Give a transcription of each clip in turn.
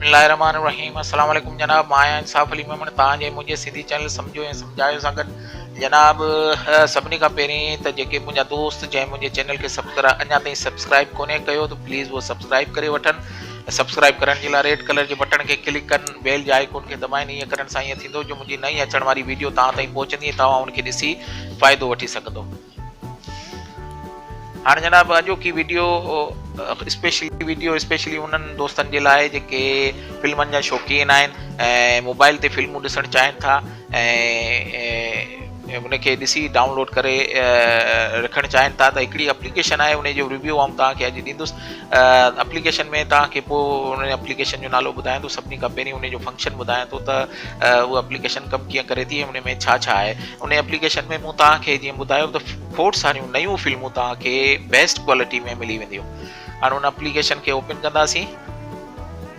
بسم الله الرحمن الرحيم السلام عليڪم جناب مان آهيان انصاف علي ميمڻ تان جي منهنجي سنڌي چينل سمجهو ۽ سمجهايو سان گڏ جناب سڀني کان پهرين ته جيڪي منهنجا دوست جنهن منهنجي چينل کي سبسڪرا اڃا تائين سبسڪرائب ڪونهي ڪيو ته پليز هو سبسڪرائب ڪري وٺن سبسڪرائب ڪرڻ جي لاء ريڊ ڪلر جي بٽڻ کي ڪلڪ ڪن بيل جي آئيڪون کي دٻائين ايئن ڪرڻ سان ايئن ٿيندو جو منهنجي نئين اچڻ واري ويڊيو توهان تائين پهچندي ۽ توهان ان کي ڏسي فائدو وٺي سگهندو هاڻ جناب اڄوڪي ويڊيو اسپيشلي ويڊيو اسپيشلي انهن دوستن جي لاء جيڪي فلمن جا شوقين آهن ۽ موبائل تي فلمون ڏسڻ چاهين ٿا ۽ ان کي ڏسي ڊائونلوڊ ڪري رکڻ چاهين ٿا ته هڪڙي اپليڪيشن آهي ان جو ريويو آئون توهان کي اڄ ڏيندس اپليڪيشن ۾ توهان کي پوء ان اپليڪيشن جو نالو ٻڌايان ٿو سڀني کان پهرين ان جو فنڪشن ٻڌايان ٿو ته اها اپليڪيشن ڪم ڪيئن ڪري ٿي ان ۾ ڇا ڇا آهي ان اپليڪيشن ۾ مون توهان کي جيئن ٻڌايو ته کوڙ ساريون نيون فلمون توهان کي بيسٽ ڪوالٽي ۾ ملي وينديون هاڻي ان اپليڪيشن کي اوپن ڪنداسين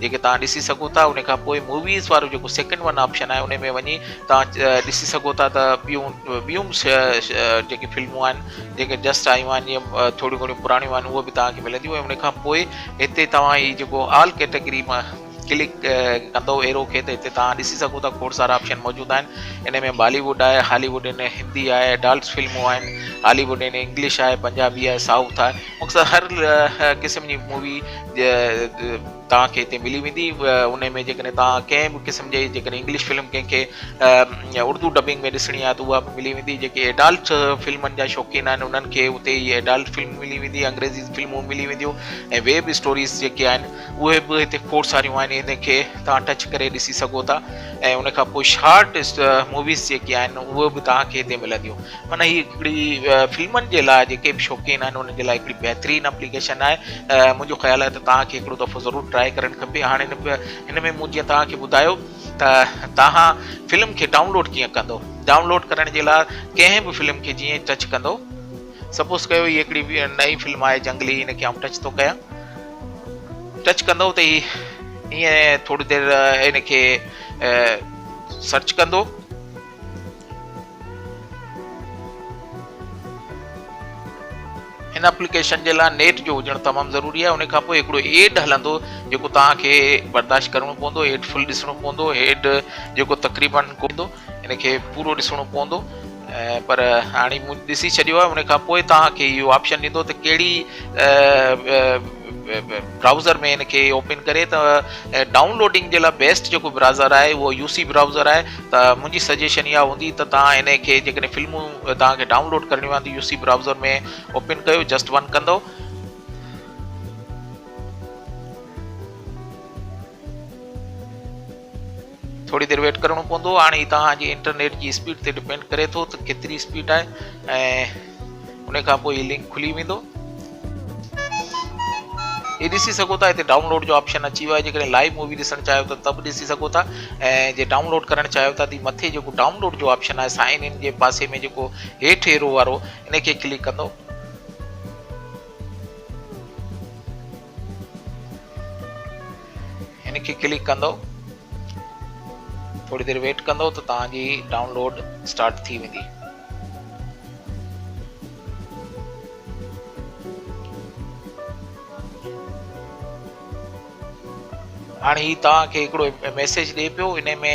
جيڪي توهان ڏسي سگهو ٿا ان کان پوء موويز وارو جيڪو سيڪنڊ ون آپشن آهي ان ۾ وڃي توهان ڏسي سگهو ٿا ته ٻيون ٻيون به جيڪي فلمون آهن جيڪي جسٽ آيون آهن جيئن ٿوريون گهڻيون پراڻيون آهن اهي به توهان کي ملنديون ۽ ان کان پوء هتي توهان هي جيڪو آل ڪيٽيگري مان ڪلڪ ڪندو ايرو کي ته هتي توهان ڏسي سگهو ٿا کوڙ سارا آپشن موجود آهن ان ۾ بالي ووڊ آهي هالي ووڊ ان هندي آهي اڊالٽس فلمون آهن هالي ووڊ ان انگلش آهي پنجابي آهي سائوٿ آهي مختصر هر قسم جي مووي توهان کي هتي ملي ويندي ان ۾ جيڪڏهن توهان ڪنهن به قسم جي جيڪڏهن انگلش فلم ڪنهن کي اردو ڊبنگ ۾ ڏسڻي آهي ته اها به ملي ويندي جيڪي ايڊالٽ فلمن جا شوقين آهن انهن کي اتي هي ايڊالٽ فلم ملي ويندي انگريزي فلمون ملي وينديون ۽ ويب اسٽوريز جيڪي آهن اهي به هتي کوڙ ساريون آهن ان کي توهان ٽچ ڪري ڏسي سگهو ٿا ۽ ان کان پوء شارٽ موويز جيڪي آهن اهي به توهان کي هتي ملنديون معنيٰ هي هڪڙي فلمن جي لاء جيڪي به شوقين آهن انهن جي لاء هڪڙي بهترين اپليڪيشن آهي منهنجو خيال آهي ته توهان کي هڪڙو دفعو ضرور ٽرائي ڪرڻ کپي هاڻ هن هن ۾ مون جيئن توهان کي ٻڌايو ته توهان فلم کي ڊائونلوڊ ڪيئن ڪندو ڊائونلوڊ ڪرڻ جي لاء ڪنهن به فلم کي جيئن ٽچ ڪندو سپوز ڪيو هي هڪڙي نئين فلم آهي جنگلي هن کي آئون ٽچ ٿو ڪيان ٽچ ڪندو ته هي ائين ٿوري دير هن کي سرچ ڪندو هن اپليڪيشن جي لاء نيٽ جو هجڻ تمام ضروري آهي ان کان پوء هڪڙو ايڊ هلندو جيڪو توهان کي برداشت ڪرڻو پوندو ايڊ فل ڏسڻو پوندو ايڊ جيڪو تقريبن ڪوندو ان کي پورو ڏسڻو پوندو پر هاڻي مون ڏسي ڇڏيو آهي ان کان پوء توهان کي اهو آپشن ڏيندو ته ڪهڙي برائوزر ۾ ان کي اوپن ڪري ته ڊائون لوڊنگ جي لاء بيسٽ جيڪو برازر آهي اهو يو سي برائوزر آهي ته منهنجي سجيشن اها هوندي ته توهان ان کي جيڪڏهن فلمون توهان کي ڊائون لوڊ ڪرڻيون آهن ته يو سي برائوزر ۾ اوپن ڪيو جسٽ ون ڪندو ٿوري دير ويٽ ڪرڻو پوندو هاڻي هي توهان جي انٽرنيٽ جي اسپيڊ تي ڊپينڊ ڪري ٿو ته ڪيتري اسپيڊ آهي ۽ ان کان پوء هي لنڪ کلي ويندو هي ڏسي سگهو ٿا هتي ڊائونلوڊ جو آپشن اچي ويو آهي جيڪڏهن لائيو مووي ڏسڻ چاهيو ٿا ته به ڏسي سگهو ٿا ۽ جي ڊائونلوڊ ڪرڻ چاهيو ٿا ته مٿي جيڪو ڊائونلوڊ جو آپشن آهي سائن ان جي پاسي ۾ جيڪو هيٺ ايرو وارو ان کي ڪلڪ ڪندو هن کي ڪلڪ ڪندو ٿوري دير ويٽ ڪندو ته توهان جي ڊائونلوڊ اسٽارٽ ٿي ويندي هاڻي هي توهان کي هڪڙو ميسيج ڏي پيو ان ۾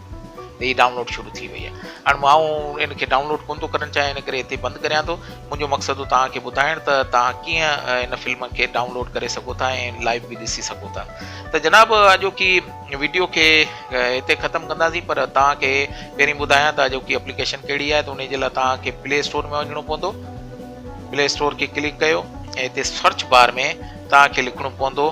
هي ڊائونلوڊ شروع ٿي وئي آهي هاڻي آئون ان کي ڊائونلوڊ ڪونه ٿو ڪرڻ چاهيان ان ڪري هتي بند ڪريان ٿو منهنجو مقصد هو توهان کي ٻڌائڻ ته توهان ڪيئن ان فلم کي ڊائونلوڊ ڪري سگهو ٿا ۽ لائيو به ڏسي سگهو ٿا ته جناب اڄوڪي ويڊيو کي هتي ختم ڪنداسين پر توهان کي پهرين ٻڌايان ته اڄوڪي اپليڪيشن ڪهڙي آهي ته ان جي لاء توهان کي پلي اسٽور ۾ وڃڻو پوندو پلي اسٽور کي ڪلڪ ڪيو ۽ هتي سرچ بار ۾ توهان کي لکڻو پوندو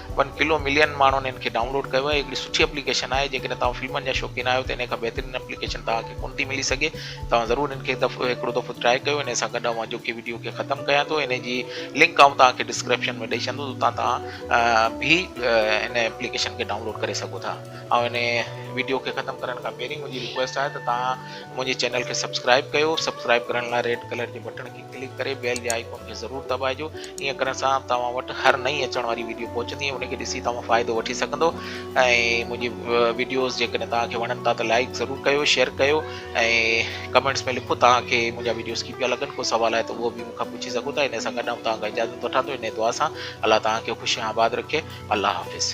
ون ڪلو ملين ماڻهن ان کي ڊائونلوڊ ڪيو آهي هڪڙي سٺي اپليڪيشن آهي جيڪڏهن توهان فلمن جا شوقين آهيو ته ان کان بهترين اپليڪيشن توهان کي ڪونه ٿي ملي سگهي توهان ضرور ان کي هڪڙو دفعو ٽرائي ڪيو ان سان گڏ اوهان جو ڪي وڊيو کي ختم ڪيان ٿو ان جي لنڪ آئون توهان کي ڊسڪرپشن ۾ ڏئي ڇڏندو اتان توهان به ان اپليڪيشن کي ڊائونلوڊ ڪري سگهو ٿا آئون ان وڊيو کي ختم ڪرڻ کان پهرين منهنجي رڪويسٽ آهي ته توهان منهنجي چينل کي سبسڪرائب ڪيو سبسڪرائب ڪرڻ لاء ريڊ ڪلر جي بٽڻ کي ڪلڪ ڪري بيل جي آئيڪون کي ضرور دٻائجو ائين ڪرڻ سان توهان وٽ هر نئين اچڻ واري ويڊيو پهچندي ۽ ان کي ڏسي توهان فائدو وٺي سگهندو ۽ منهنجي ويڊيوز جيڪڏهن توهان کي وڻن ٿا ته لائيڪ ضرور ڪيو شيئر ڪيو ۽ ڪمينٽس ۾ لکو توهان کي منهنجا ويڊيوز ڪي پيا لڳن ڪو سوال آهي ته اهو به مون کان پڇي سگهو ٿا ان سان گڏ آئون توهان کان اجازت وٺان ٿو انهي دعا سان الله توهان کي خوش ۽ آباد رکي الله حافظ